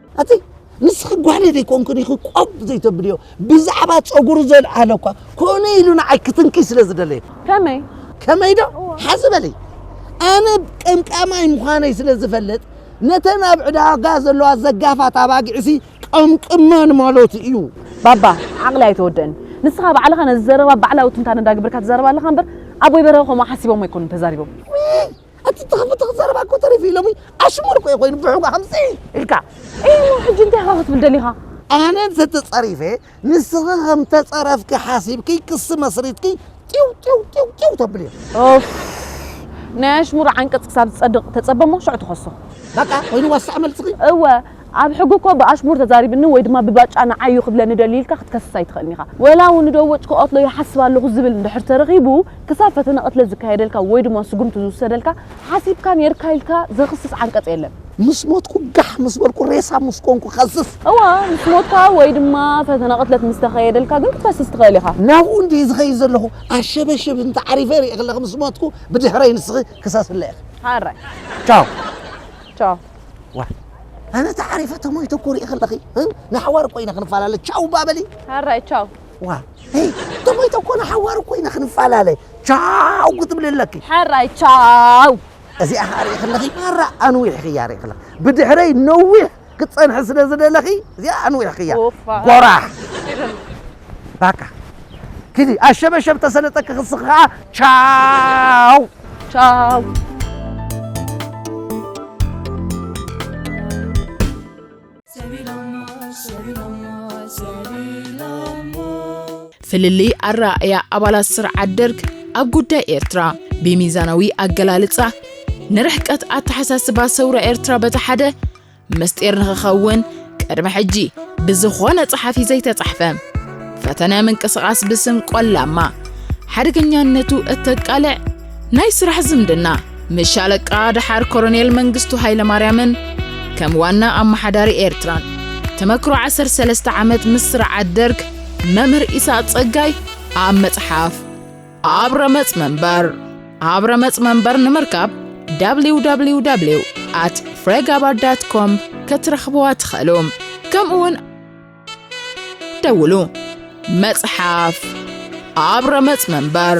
ኣቲ ንስኺ ጓለ ዘይኮንክን ኢኺ ቆብ ዘይተብልዮ ብዛዕባ ፀጉሪ ዘልዓለ እኳ ኮነ ኢሉ ንዓይ ክትንኪ ስለ ዝደለየ ከመይ ከመይ ዶ ሓዚ በለይ ኣነ ቀምቃማይ ምዃነይ ስለ ዝፈለጥ ነተን ኣብ ዕዳጋ ዘለዋ ዘጋፋት ኣባጊዕሲ ቀምቅመን ማለት እዩ ባባ ዓቕሊ ኣይተወደእን ንስኻ ባዕልኻ ነዚ ዘረባ ባዕላዊ ትንታነ እንዳግበርካ ትዛረብ ኣለኻ እምበር ኣቦይ በረኸ ከምኡ ሓሲቦም ኣይኮኑን ተዛሪቦም ኣቲ ተኸፍተኽ ዘረባ እኮ ተሪፉ እዩ ሎሚ ኣሽሙር እኮ እዩ ኮይኑ ብሕጓ ከምዚ ኢልካ እሞ ሕጂ እንታይ ኢኻ ክትብል ደሊኻ ኣነ ተተጸሪፈ ንስኺ ከም ተጸረፍኪ ሓሲብኪ ክሲ መስሪትኪ ጢው ጢው ጢው ጢው ተብል እዩ ኦፍ ናይ ኣሽሙር ዓንቀጽ ክሳብ ዝጸድቕ ተጸበ እሞ ሽዑ ትኸሶ በቃ ኮይኑ ዋሳዕ መልስኺ እወ ኣብ ሕጊ እኮ ብኣሽሙር ተዛሪብኒ ወይ ድማ ብባጫ ንዓይ እዩ ክብለኒ ደልዩ ኢልካ ክትከስስ ኣይትኽእልን ኢኻ። ወላ እውን ንደወጭ ክቐትሎ ይሓስብ ኣለኹ ዝብል እንድሕር ተረኺቡ ክሳብ ፈተነ ቅትለት ዝካየደልካ ወይ ድማ ስጉምቲ ዝውሰደልካ ሓሲብካ ኔርካ ኢልካ ዘኽስስ ዓንቀፅ የለን። ምስ ሞትኩ ጋሕ ምስ በልኩ ሬሳ ምስ ኮንኩ ክኸስስ። እወ ምስ ሞትካ ወይ ድማ ፈተነ ቅትለት ምስ ተኸየደልካ ግን ክትከስስ ትኽእል ኢኻ። ናብኡ እንድየ ዝኸይድ ዘለኹ ኣሸበሽብ እንተ ዓሪፈ ሪኤክለኺ ምስ ሞትኩ ብድሕረይ ንስኺ ክሰስለይ ኢኺ። ሐራይ። ቻው። ቻው። ዋይ ኣነ ተዓሪፈ ተሞይተ እኮ ርኢኺ ኣለኺ ንሓዋሩ ኮይነ ክንፈላለ ቻው እባ በሊ ሃራይ ቻው ዋ ሄይ ተሞይተ እኮ ንሓዋሩ ኮይነ ክንፈላለ ቻው ክትብሊ ኣለኪ ሓራይ ቻው እዚኣ ከዓ ርኢኺ ኣለኺ ማራ ኣንዊሕኽያ ርኢኺ ኣለኺ ብድሕረይ ነዊሕ ክትፀንሒ ስለ ዝደለኺ እዚኣ ኣንዊሕኽያ ጎራሕ ባቃ ኪዲ ኣሸበሸብ ተሰለጠ ክክስኺ ከኣ ቻው ቻው ፍልልይ ኣረኣእያ ኣባላት ስርዓት ደርግ ኣብ ጉዳይ ኤርትራ ብሚዛናዊ ኣገላልጻ ንርሕቀት ኣተሓሳስባ ሰውራ ኤርትራ በቲ ሓደ ምስጢር ንኽኸውን ቅድሚ ሕጂ ብዝኾነ ጸሓፊ ዘይተጻሕፈ ፈተነ ምንቅስቓስ ብስም ቆላማ ሓደገኛነቱ እተቃልዕ ናይ ስራሕ ዝምድና ምስ ሻለቃ ደሓር ኮሎኔል መንግስቱ ሃይለማርያምን ከም ዋና ኣመሓዳሪ ኤርትራን ተመክሮ 13 ዓመት ምስ ስርዓት ደርግ መምህር ኢሳቅ ጸጋይ ኣብ መጽሓፍ ኣብ ረመጽ መንበር ኣብ ረመጽ መንበር ንምርካብ www at ፍሬጋባር ዳት ኮም ከትረኽብዋ ትኽእሉ ከምኡውን ደውሉ መጽሓፍ ኣብ ረመጽ መንበር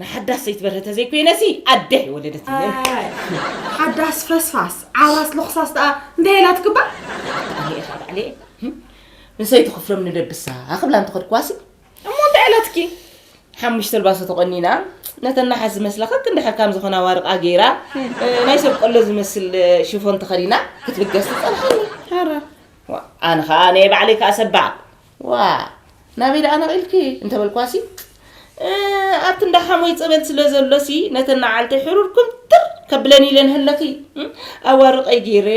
ንሓዳስ ሰይቲ በርሀ ተዘይኮይነሲ ኣደ የወለደት ሓዳስ ፈስፋስ ዓራስ ሎኽሳስ ደኣ እንታይ ኢላ ትግባእ እኔኤታ ባዕለየ ንሰይቲ ክፍሎም ንደብሳ ኣኽብላ እንተኸድክዋሲ እሞ እንታይ ኢላትኪ ሓሙሽተ ልባሶ ተቆኒና ነተን ናሓስ ዝመስላ ከክ እንድሕር ከም ዝኾና ዋርቃ ገይራ ናይ ሰብ ቆሎ ዝመስል ሽፎን ተኸዲና ክትብገስ ትፀርሐኒ ኣነ ከዓ ናይ ባዕለይ ከዓ ሰባዕ ዋእ ናበይ ደኣ ነቒልኪ እንተበልኳሲ፣ እ ኣብቲ እንዳ ሓሞይ ጸበል ስለ ዘሎሲ ነተን ነዓልተይ ሕሩር ኩምትር ከብለን ኢለን ሃለኺ ኣዋርቀይ ገይረ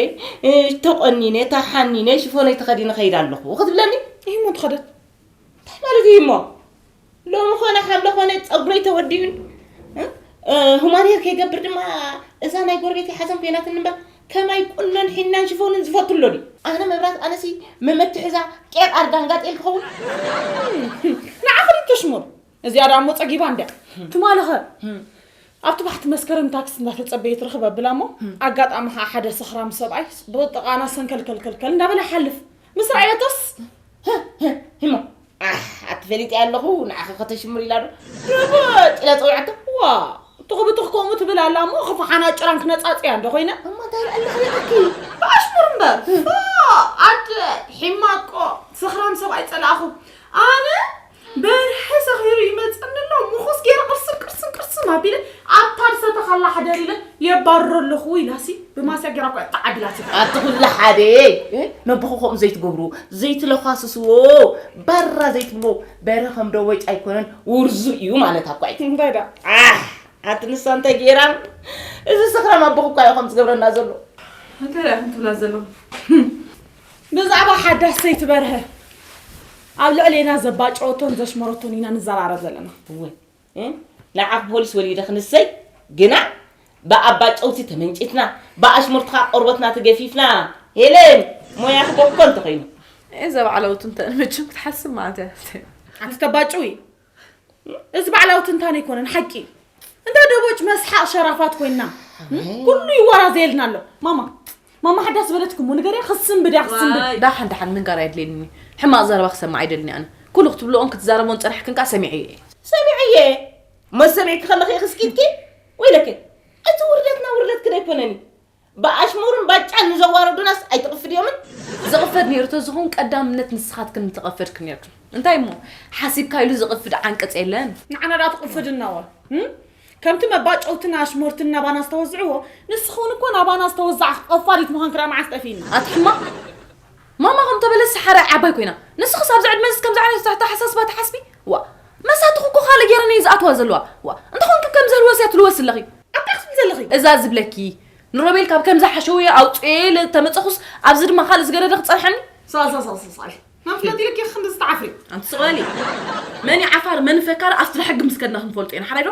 እ ተቖኒነ ተሓኒነ ሽፎነይ ተኸዲነ እኸይድ ኣለኹ ክትብለኒ፣ እሂሞ ተኸደት እንታይ ማለት እሂሞ? ሎሚ ኮነ ሓምለ ኮነ ፀጉረይ ተወዲኡን ሁማን ሄር ከይገብር ድማ እዛ ናይ ጎረቤት ሓዘን ኮይናትን እምበር ከማይ ቁኖን ሒናን ሽፎንን ዝፈቱ ኣሎ ድዩ ኣነ መብራት ኣነሲ መመትሕዛ ቄር ኣርዳን ጋጤል ክኸውን ንዓኽሪ ተሽሙር እዚኣ ዳሞ ፀጊባ እንድያ ትማልኸ ኣብቲ ባሕቲ መስከረም ታክሲ እንዳተፀበየ ትረኽበ ብላ እሞ ኣጋጣሚ ከዓ ሓደ ሰኽራም ሰብኣይ ብጥቃና ሰንከልከልከልከል እንዳበለ ሓልፍ ምስ ረኣየቶስ ህሞ ኣሕ ኣቲ ፈሊጠ ኣለኹ ንዓኺ ከተሽምር ኢላ ዶ ርግጥ ኢለ ፀዊዐቶ ዋ ትኹብትኽ ከምኡ ትብል ኣላ እሞ ክፋሓና ጭራን ክነፃፅያ እንዶ ኮይነ እሞ እንታይ ልዕልኺ ይኣኪ ብኣሽሙር እምበር ኣደ ሒማቆ ሰኽራም ሰብኣይ ፀላእኹ ኣነ በርሀ ሰኺሩ ይመጸኒ ኣሎ ምኹስ ገይረ ቅርስም ቅርስም ቅርስም ኣቢለ ኣብታ ዝሰተኻላ ሓደር ኢለ የባርሮ ኣለኹ ኢላሲ ብማስያ ገይራ እኳ ተዓዲላሲ ኣቲ ኩሉ ሓደ ነብኹ ከምኡ ዘይትገብሩ ዘይትለኳስስዎ ባራ ዘይትብልዎ በርሀ ከም ደወጭ ኣይኮነን ውርዙ እዩ ማለት ኣኳ እዩ እንታይ ዳ ኣቲ ንሳ እንታይ ገይራ እዚ ሰኽራም ኣቦኹ እኳ እዩ ከም ዝገብረና ዘሎ እንታይ ዳ ክንትብላ ዘለኹ ብዛዕባ ሓዳስ ሰይቲ በርሀ ኣብ ልዕሌና ዘባጨወቶን ዘሽመረቶን ኢና ንዘራረብ ዘለና። እወ ናይ ዓኽ ፖሊስ ወሊደ ክንሰይ ግና ብኣባጨውቲ ተመንጪትና ብኣሽሙርትኻ ቆርበትና ተገፊፍና ሄለን ሞያ ክገፍኮ እንተኾይኑ እዘ ባዕለውቱ እንተ መቸም ክትሓስብ ማለት እያ ኣስተባጭዊ እዚ ባዕላዊ ትንታነ ኣይኮነን ሓቂ እዩ እንዳ ደቦጭ መስሓቅ ሸራፋት ኮይና ኩሉ ይወራዘየልና ኣሎ ማማ ማማ ሓዳ ዝበለትኩም ንገርያ ክስንብድ እያ ክስንብድ ዳሓን ዳሓን ምንጋር ኣየድልየኒ ሕማቅ ዘረባ ክሰማዕ ኣይደልኒ ኣነ ኩሉ ክትብልኦን ክትዛረቦን ፀናሕክን ከዓ ሰሚዐ እየ ሰሚዐ እየ መሰሚዕኪ ከለኺ ክስኪትኪ ወይለኪ እቲ ውርደትና ውርደት ክደ ኣይኮነን እዩ ብኣሽሙርን ባጫን ንዘዋረዱናስ ኣይተቕፍድዮምን? ዝቕፈድ ነይሩ ተዝኾን ቀዳምነት ንስኻትክን ምተቐፈድክን ነይርክን። እንታይ እሞ ሓሲብካ ኢሉ ዝቕፍድ ዓንቀጽ የለን። ንዓና ደኣ ትቕፍድናወ? ከምቲ መባጨውትን ኣሽሞርትን ናባና ዝተወዝዕዎ ንስኽውን እኮ ናባና ዝተወዛዕኽ ቐፋዲት ምዃንኪ ደኣ መዓስ ጠፊእኒ? ኣቲ ሕማቕ! ማማ ከም ተበለስ ሰሓራይ ዓባይ ኮይና ንስኽስ ኣብዚ ዕድመዝስ ከምዚ ዓይነት ኣተሓሳስባ ትሓስቢ ዋእ መሳትኹ እኮ ካልእ ጌረን እየን ዝኣትዋ ዘለዋ ዋእ እንተኾንኪ ከምዚ ህልወስ እያ ትልወስ ዘለኺ ኣንታይ ክትብሊ ዘለኺ እዛ ዝብለኪ ንሮቤል ካብ ከምዚ ሓሸውየ ኣውጽኤ ኢለ ተመጸኹስ ኣብዚ ድማ ካልእ ዝገደደ ክጸንሓኒ ሳሳሳሳሳይ መፍለጥ ኢልኪ ክንዲ ዝተዓፍሪ ኣንቲ ስቕለሊ መን እዩ ዓፋር መን ፈካሪ ኣብቲ ሕጊ ምስ ከድና ክንፈልጦ ኢና ሓራይ ዶ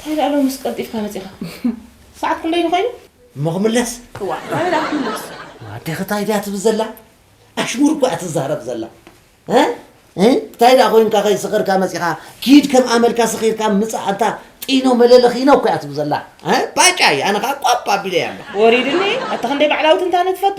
እንታይ ደኣ ሎምስ ቀልጢፍካ መጺኻ? ሰዓት ክንደይ ኮይኑ? እሞ ክምለስ እዋ እንታይ ደኣ ክምለስ ኣዴኺ እንታይ ድያ ትብል ዘላ ኣሽሙር እኳ እያ ትዛረብ ዘላ እ እ እንታይ ደኣ ኮይንካ ከይሰኸርካ መጺኻ ኪድ ከም ኣመልካ ሰኺርካ ምጻእ ኣንታ ጢኖ መለለኺኖ እኳ እያ ትብል ዘላ እ ባጫ እያ ኣነ ከዓ ቋብ ኣቢለያ ኣለኹ ወሪድኒ ኣታ ክንደይ ባዕላዊት እንታነ ትፈቱ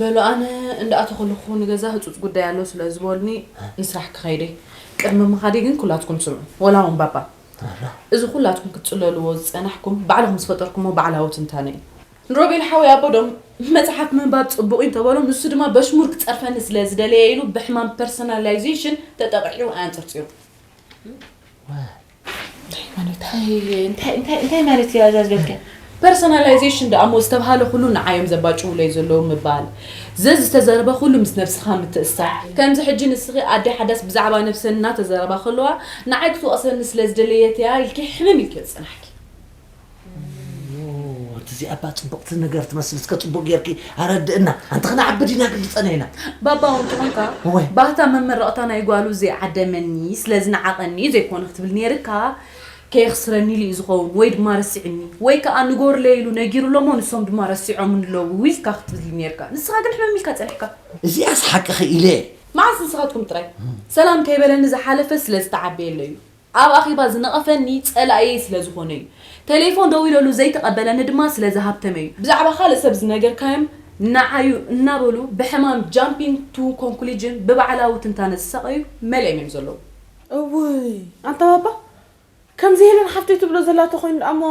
በሉ ኣነ እንዳ ኣተኹልኹ ንገዛ ህጹጽ ጉዳይ ኣሎ ስለ ዝበሉኒ ንስራሕ ክኸይድ እየ ቅድሚ ምኻደይ ግን ኩላትኩም ስምዑ ወላ ውን ባባ እዚ ኩላትኩም ክትጽለልዎ ዝጸናሕኩም ባዕልኹም ዝፈጠርኩሞ ባዕላዊ ትንታነ እዩ ንሮቤል ሓወይ ኣቦ ዶ መጽሓፍ ምንባብ ጽቡቕ እዩ እንተበሎ ንሱ ድማ በሽሙር ክጸርፈኒ ስለ ዝደለየ ኢሉ ብሕማም ፐርሰናላይዜሽን ተጠቒዑ ኣንጸርጺሩ። እንታይ ማለት እያ እዛ ዝበልከ ፐርሶናላይዜሽን ደኣ እሞ ዝተብሃለ ኩሉ ንዓዮም ዘባጭውለይ ዘለዉ ምባል ዘዝተዘረበ ኩሉ ምስ ነብስኻ ምትእስሳር ከምዚ ሕጂ ንስኺ ኣደ ሓዳስ ብዛዕባ ነብሰን እናተዘረባ ከለዋ ንዓይ ክትወቕሰኒ ስለ ዝደለየት እያ ኢልኪ ሕምም ኢልኪ ዝጸናሕኪ ኣንቲ እዚኣ እባ ፅብቕቲ ነገር ትመስል እስከ ፅቡቅ ጌርኪ ኣረድእና ኣንቲ ክነዓቢ ዲና ግልፀና ኢና ባባ እውን ትኾንካ እወ። ባህታ መመረቕታ ናይ ጓሉ ዘይዓደመኒ ስለ ዝነዓቐኒ እዩ ዘይኮነ ክትብል ነይርካ ከየኽስረኒ ኢሉ እዩ ዝኸውን ወይ ድማ ረሲዑኒ ወይ ከዓ ንጎርለይ ኢሉ ነጊሩሎ እሞ ንሶም ድማ ረሲዖምኒ ኣለዉ ኢልካ ክትብል እዩ ነይርካ ንስኻ ግን ሕምም ኢልካ ፀኒሕካ እዚኣስ ሓቅኺ ኢለ እየ መዓስ ንስኻትኩም ጥራይ ሰላም ከይበለኒ ዝሓለፈ ስለ ዝተዓበየለይ እዩ ኣብ ኣኼባ ዝነቐፈኒ ጸላኢየይ ስለ ዝኾነ እዩ። ተሌፎን ደዊለሉ ዘይተቐበለኒ ድማ ስለ ዝሃብተመ እዩ። ብዛዕባ ካልእ ሰብ ዝነገርካዮም ንዓዩ እናበሉ ብሕማም ጃምፒንግ ቱ ኮንኩሊጅን ብባዕላዊ ትንታነ ዝሳቐዩ መሊኦም እዮም ዘለዉ። እውይ ኣንታ ባባ ከምዚ ሄለን ሓፍተይ ትብሎ ዘላ ተኮይኑ ደኣሞ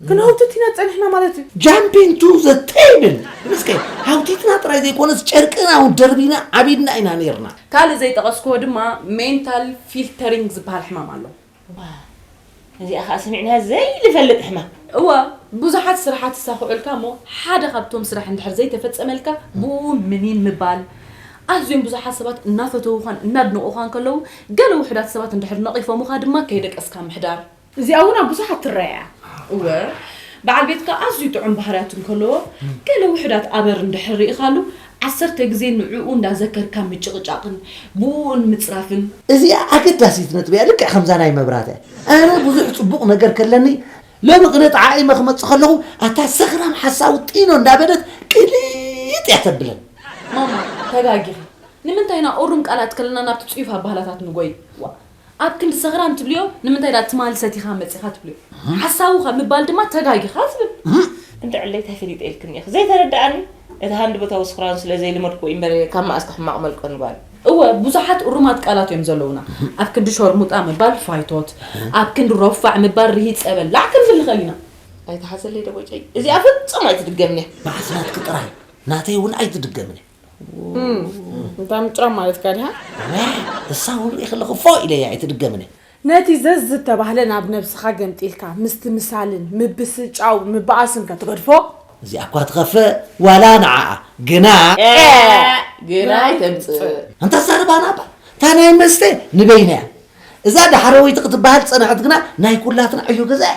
ግን ሃውትቲና ጸኒሕና ማለት እዩ ጃምፒን ቱ ዘ ቴብል ምስከ ሃውቲትና ጥራይ ዘይኮነስ ጨርቅና እውን ደርቢና ዓቢድና ኢና ነይርና ካልእ ዘይጠቐስክዎ ድማ ሜንታል ፊልተሪንግ ዝበሃል ሕማም ኣሎ ዋው እዚኣ ከኣ ሰሚዕናያ ዘይንፈልጥ ሕማም። እወ ብዙሓት ስራሓት ይሳኽዑልካ እሞ ሓደ ካብቶም ስራሕ እንድሕር ዘይተፈጸመልካ ብኡ ምኒን ምባል ኣዝዮም ብዙሓት ሰባት እናፈተዉኻን እናድነቑኻን ከለዉ ገለ ውሑዳት ሰባት እንድሕር ነቒፎሙኻ ድማ ከይደቀስካ ምሕዳር እዚኣ እውን ኣብ ብዙሓት ትረኣ እያ። እወ በዓል ቤትካ ኣዝዩ ጥዑም ባህርያት እንከለዎ ገለ ውሑዳት ኣበር እንድሕር ርኢኻሉ ዓሰርተ ግዜ ንዕኡ እንዳዘከርካ ምጭቕጫቕን ብኡኡን ምጽራፍን እዚኣ ኣገዳሲት ነጥቢ እያ ልክዕ ከምዛ ናይ መብራት እያ ኣነ ብዙሕ ጽቡቕ ነገር ከለኒ ሎሚ ግነ ጠዓዒመ ክመጽእ ከለኹ ኣታ ሰኽራም ሓሳዊ ጢኖ እንዳበለት ቅሊጥ እያ ተብለን ማማ ተጋጊኺ ንምንታይ ኢና ኦሩም ቃላት ከለና ናብቲ ጽዩፍ ኣባህላታት ንጎይ ዋ ኣብ ክንዲ ሰኽራም ትብልዮ ንምንታይ ድኣ ትማሊ ሰቲኻ መጺኻ ትብልዮ ሓሳዊ ካብ ምባል ድማ ተጋጊኻ ትብል። እንተ ዕለይ ታይ ፈሊጠ ኢልክኒ እኺ ዘይተረደኣኒ እቲ ሃንደበታዊ ስኽራኑ ስለ ዘይለመድክዎ ኢዩ እምበር ካብ መኣስ ተሕማቕ መልቀኑ ጓል። እወ ብዙሓት እሩማት ቃላት እዮም ዘለዉና ኣብ ክንዲ ሾርሙጣ ምባል ፋይቶት ኣብ ክንዲ ሮፋዕ ምባል ርሂጸ በላዕ ክንብል ንኽእል ኢና። ኣይትሓዘለይ ደቦጨይ እዚኣ ፍጹም ኣይትድገምን'ያ። ብሓሳብኪ ጥራይ ናተይ ውን ኣይትድገምን እያ። እንታ ምጭራም ማለትካ ድያ? ክሳውም ኢኺ ኣለኹ ፎእ ኢለያ ኣይትድገምኒ። ነቲ ዘዝተባህለ ናብ ነብስኻ ገምጢልካ ምስትምሳልን ምብስጫው ምባኣስን ከትገድፎ። እዚኣ እኳ ትኸፍእ ዋላ ንዓኣ ግና። ኤእ ግና ኣይተምጽእ። ኣንታ ኣዛርባና እባ እታ ናይ መስተ ንበይና እያ። እዛ ዳሕረወይቲ ክትባሃል ዝጸንሐት ግና ናይ ኩላትና ዕዮ ገዛ እያ።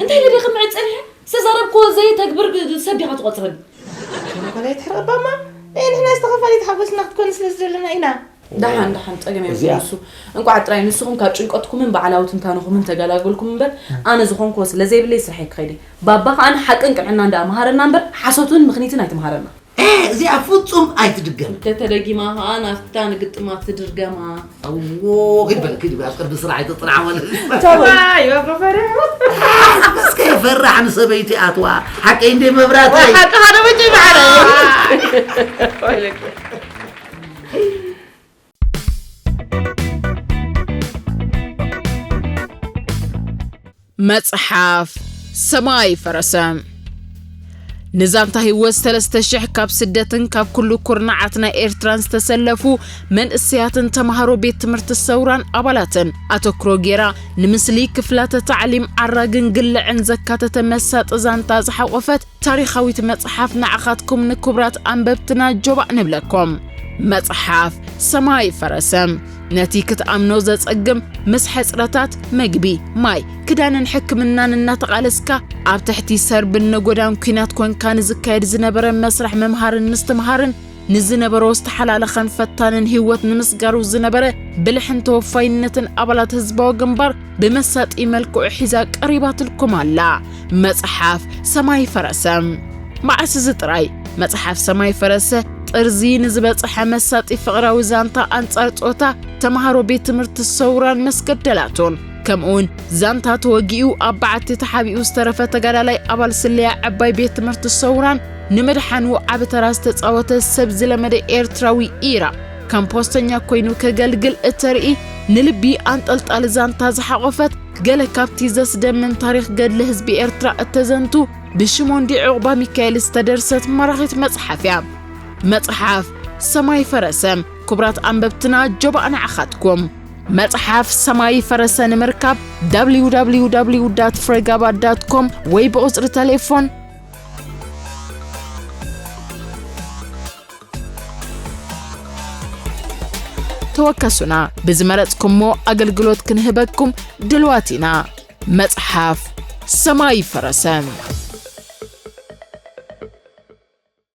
እንታይ ኢለ ክምዕድ ጸኒሐ ዝተዛረብክዎ ዘየተግብር ሰብ ዲኻ ትቖጽረኒ ወላ ይትሕረቕ ባማ ናይ ንሕና ዝተኸፋሊት ሓጎስና ክትኮኒ ስለ ዝደለና ኢና ደሓን ደሓን ጸገም የብሉን ንሱ እንቋዕ ጥራይ ንስኹም ካብ ጭንቀትኩምን በዓላዊ ትንታንኹምን ተገላገልኩም እምበር ኣነ ዝኾንክዎ ስለ ዘይብለይ ስርሐይ ክኸይድ እየ ባባ ከኣ ሓቅን ቅንዕናን ደኣ መሃረና እምበር ሓሶትን ምኽኒትን ኣይትምሃረና ኤህ እዚኣ ፍጹም ኣይትድገም። እንተተደጊማ ኸኣ ናፍታ ንግጥማት ትድርገማ። ኣዎ ኪድ በል ኪድ ኣብ ቅድሚ ስራሕ ኣይተጽንዓ ማለት ኣበስ ከይፈራሕ ንሰበይቲ ኣትዋ ሓቀይ እንደ መብራት ሓቂ ሓደ በጭ በዓለ መጽሓፍ ሰማይ ፈረሰ ንዛንታ ህይወት ሰለስተ ሽሕ ካብ ስደትን ካብ ኩሉ ኩርናዓት ናይ ኤርትራን ዝተሰለፉ መንእሰያትን ተምሃሮ ቤት ትምህርቲ ሰውራን ኣባላትን ኣተክሮ ጌራ ንምስሊ ክፍላተ ታዕሊም ዓራግን ግልዕን ዘካተተ መሳጢ ዛንታ ዝሓቖፈት ታሪኻዊት መጽሓፍ ንዓኻትኩም ንክቡራት ኣንበብትና ጆባእ ንብለኩም። መጽሓፍ ሰማይ ፈረሰ ነቲ ክትኣምኖ ዘጸግም ምስ ሕጽረታት መግቢ፣ ማይ፣ ክዳንን ሕክምናን እናተቓለስካ ኣብ ትሕቲ ሰርብን ነጎዳን ኲናት ኮንካ ንዝካየድ ዝነበረ መስርሕ ምምሃርን ምስትምሃርን ንዝነበሮ ዝተሓላለኸን ፈታንን ህይወት ንምስጋሩ ዝነበረ ብልሕን ተወፋይነትን ኣባላት ህዝባዊ ግንባር ብመሳጢ መልክዑ ሒዛ ቀሪባትልኩም ኣላ መጽሓፍ ሰማይ ፈረሰ። መዓስ እዚ ጥራይ መጽሓፍ ሰማይ ፈረሰ ጥርዚ ንዝበጽሐ መሳጢ ፍቕራዊ ዛንታ ኣንጻር ጾታ ተምሃሮ ቤት ትምህርቲ ሰውራን መስገደላቱን ከምኡውን ዛንታ ተወጊኡ ኣብ በዓቲ ተሓቢኡ ዝተረፈ ተጋዳላይ ኣባል ስለያ ዕባይ ቤት ትምህርቲ ሰውራን ንምድሓኑ ዓቢ ተራ ዝተጻወተ ሰብ ዝለመደ ኤርትራዊ ኢራ ከም ፖስተኛ ኮይኑ ከገልግል እተርኢ ንልቢ ኣንጠልጣሊ ዛንታ ዝሓቖፈት ገለ ካብቲ ዘስደምም ታሪኽ ገድሊ ህዝቢ ኤርትራ እተዘንቱ ብሽሞንዲ ዕቑባ ሚካኤል ዝተደርሰት ማራኺት መጽሓፍ እያ። መጽሓፍ ሰማይ ፈረሰ ክቡራት ኣንበብትና ጆባእ ንዓኻትኩም መጽሓፍ ሰማይ ፈረሰ ንምርካብ www ፍሬጋባ ኮም ወይ ብቑጽሪ ተሌፎን ተወከሱና ብዝመረጽኩሞ ኣገልግሎት ክንህበኩም ድልዋት ኢና መጽሓፍ ሰማይ ፈረሰ